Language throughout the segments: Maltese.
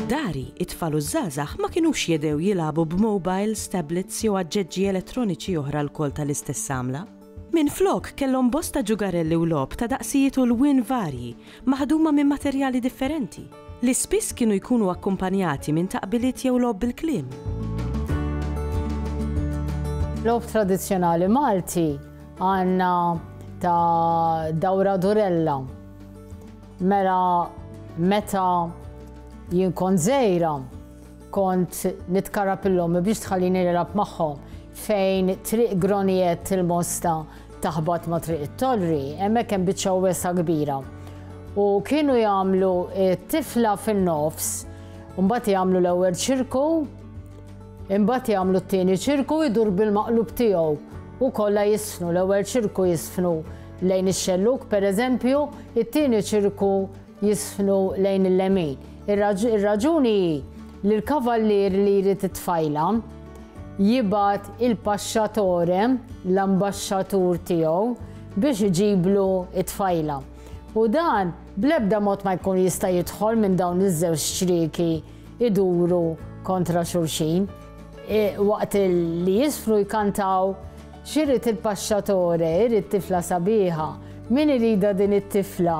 Dari, it-tfal u ż-żgħażagħ ma kinux jedew jilagħbu b'mowbajls, tablets jew aġġeġġi elettroniċi oħra lkoll tal-istess għamla. Minflok, kellhom bosta ġugarelli u logħob ta' daqsijiet u lwien varji, maħduma minn materjali differenti, li spiss kienu jkunu akkumpanjati minn taqbiliet jew logħob bil-kliem. Logħob tradizzjonali Malti għandna ta' dawra durella. Mela meta jien kont żgħira, Kont nitkarab il ommi biex tħallini nilgħab magħhom. Fejn triq Groniet il-Mosta taħbat ma' triq it-Torri, hemmhekk hemm biċċa wesa kbira. U kienu jagħmlu tifla fin-nofs, mbagħad jagħmlu l-ewwel ċirku, imbagħad jagħmlu t-tieni ċirku jdur bil-maqlub tiegħu u kollha jisfnu l-ewwel ċirku jisfnu lejn ix-xelluk pereżempju, it-tieni ċirku jisħnu lejn il-lemin. Ir-raġuni hi li l-kavallier li jrid it-tfajla jibgħat il-paxxatore, l-ambaxxatur tiegħu, biex iġiblu t-tfajla. U dan bl-ebda mod ma jkun jista' jidħol minn dawn iż-żewġ ċrieki iduru kontra xulxin. E, waqt li jisfru jkantaw xirrid il-paxxatore, irrid tifla sabiħa, min irida din it-tifla,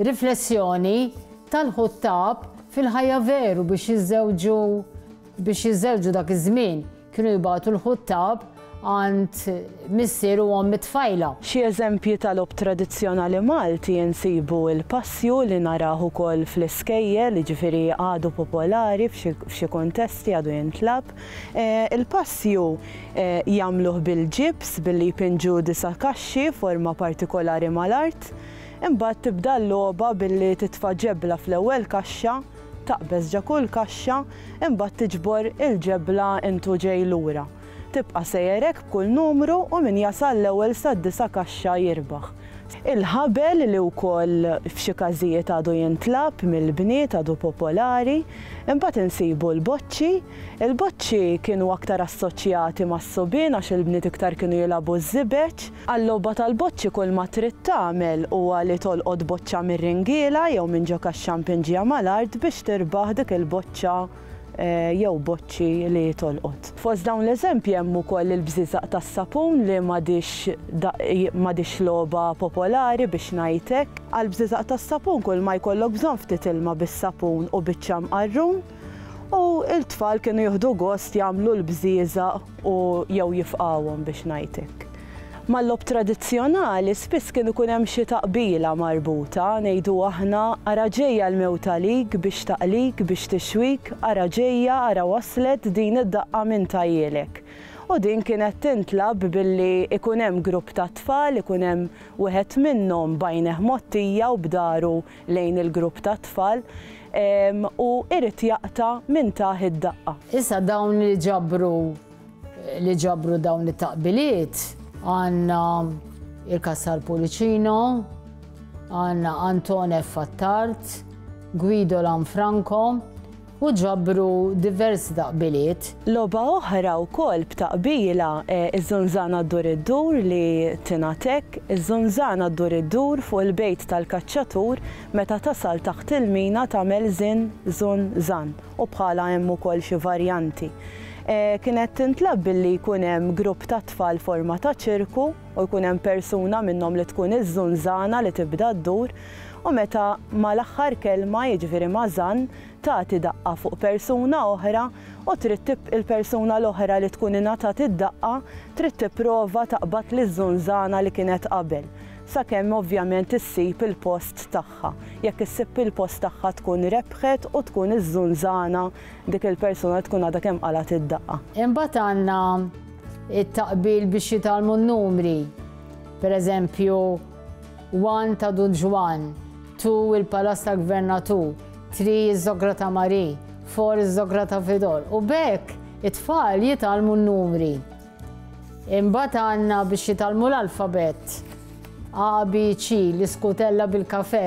Riflessjoni, Tal-ħuttab fil-ħajja veru biex jiżżewġu biex jiżżewġu dak iż-żmien kienu jibagħtu l-ħuttab għand missier u omm it-tfajla. Xi eżempji ta' logħob tradizzjonali Malti nsibu l-passju li narah ukoll fl-iskejjel, jiġifieri għadu popolari f'xi kuntesti għadu jintlagħab. Il-passju jagħmluh bil-ġibs billi jpinġu disa' kaxxi forma partikolari mal-art. Imbagħad tibda l-logħba billi titfa' ġebla fl-ewwel kaxxa, taqbeż ġa kull kaxxa, imbagħad tiġbor il-ġebla int u ġej lura. Tibqa' sejjer hekk b'kull numru u min jasal l-ewwel sad-disa' kaxxa jirbaħ. Il-ħabel li wkoll f'xi każijiet għadu jintlagħab mill-bniet għadu popolari. Imbagħad insibu l-boċċi. Il-boċċi kienu aktar assoċjati mas-subien għax il-bniet iktar kienu jilagħbu ż-żibeġ. Għal-logħba tal-boċċi kulma trid tagħmel huwa li tolqot boċċa mir-ringiela jew minn ġo kax-xampinġija mal-art biex tirbaħ dik il-boċċa jew boċċi li tolqot. Fost dawn l-eżempji hemm ukoll il-bżieżaq tas-sapun li m'għadhiex logħba popolari biex ngħid hekk. Għall-bżieżaq tas-sapun kulma jkollok bżonn ftit ilma bis-sapun u biċċa mqarrun u l-tfal kienu jieħdu gost jagħmlu l-bżieżaq u jew jifqgħuhom biex ngħid hekk. Mal-logħob tradizzjonali spiss kien ikun hemm xi taqbila marbuta, ngħidu aħna, ara ġejja l-mewt għalik biex taqlik, biex tixwik, ara ġejja, ara waslet din id-daqqa minn tajjielek. U din kienet tintlagħab billi ikun hemm grupp tat-tfal, ikun hemm wieħed minnhom b'għajnejh mgħottija u b'dahru lejn il-grupp tat-tfal u irid jaqta' minn tah id-daqqa. Issa dawn li ġabru li ġabru dawn it-taqbiliet għandna il-Cassar Pullicino, għandna Anton F. Attard, Guido Lanfranco, u ġabru diversi taqbiliet. Logħba oħra wkoll b'taqbila hi ż-żunżana ddur iddur li tingħad hekk, Iż-żunżana ddur iddur fuq il-bejt tal-kaċċatur meta tasal taħt il-mina tagħmel żin, zun, zan, u bħalha hemm ukoll xi varjanti. Kienet tintlagħab billi jkun hemm grupp ta' tfal forma ta' ċirku u jkun hemm persuna minnhom li tkun iż-żunżana li tibda ddur u meta mal-aħħar kelma, jiġifieri ma' zan, tagħti daqqa fuq persuna oħra u trid tib il-persuna l-oħra li tkun ingħatat id-daqqa trid tipprova taqbad liż-żunżana li kienet qabel sakemm ovvjament issib il-post tagħha. Jekk issib il-post tagħha tkun rebħet u tkun iż-żunżana dik il-persuna li tkun għadha kemm qalgħet id-daqqa. Imbagħad għandna t-taqbil biex jitgħallmu n-numri. Per eżempju, one ta' Dun Ġwann, two il-Palazz tal-Gvernatur. Tri iż-żogra ta' Marie, four iż-żogra ta' Vidor. U b'hekk it-tfal jitgħallmu n-numri. Imbagħad għandna biex jitgħallmu l-alfabett. A, B, C, l-iskutella bil-kafe.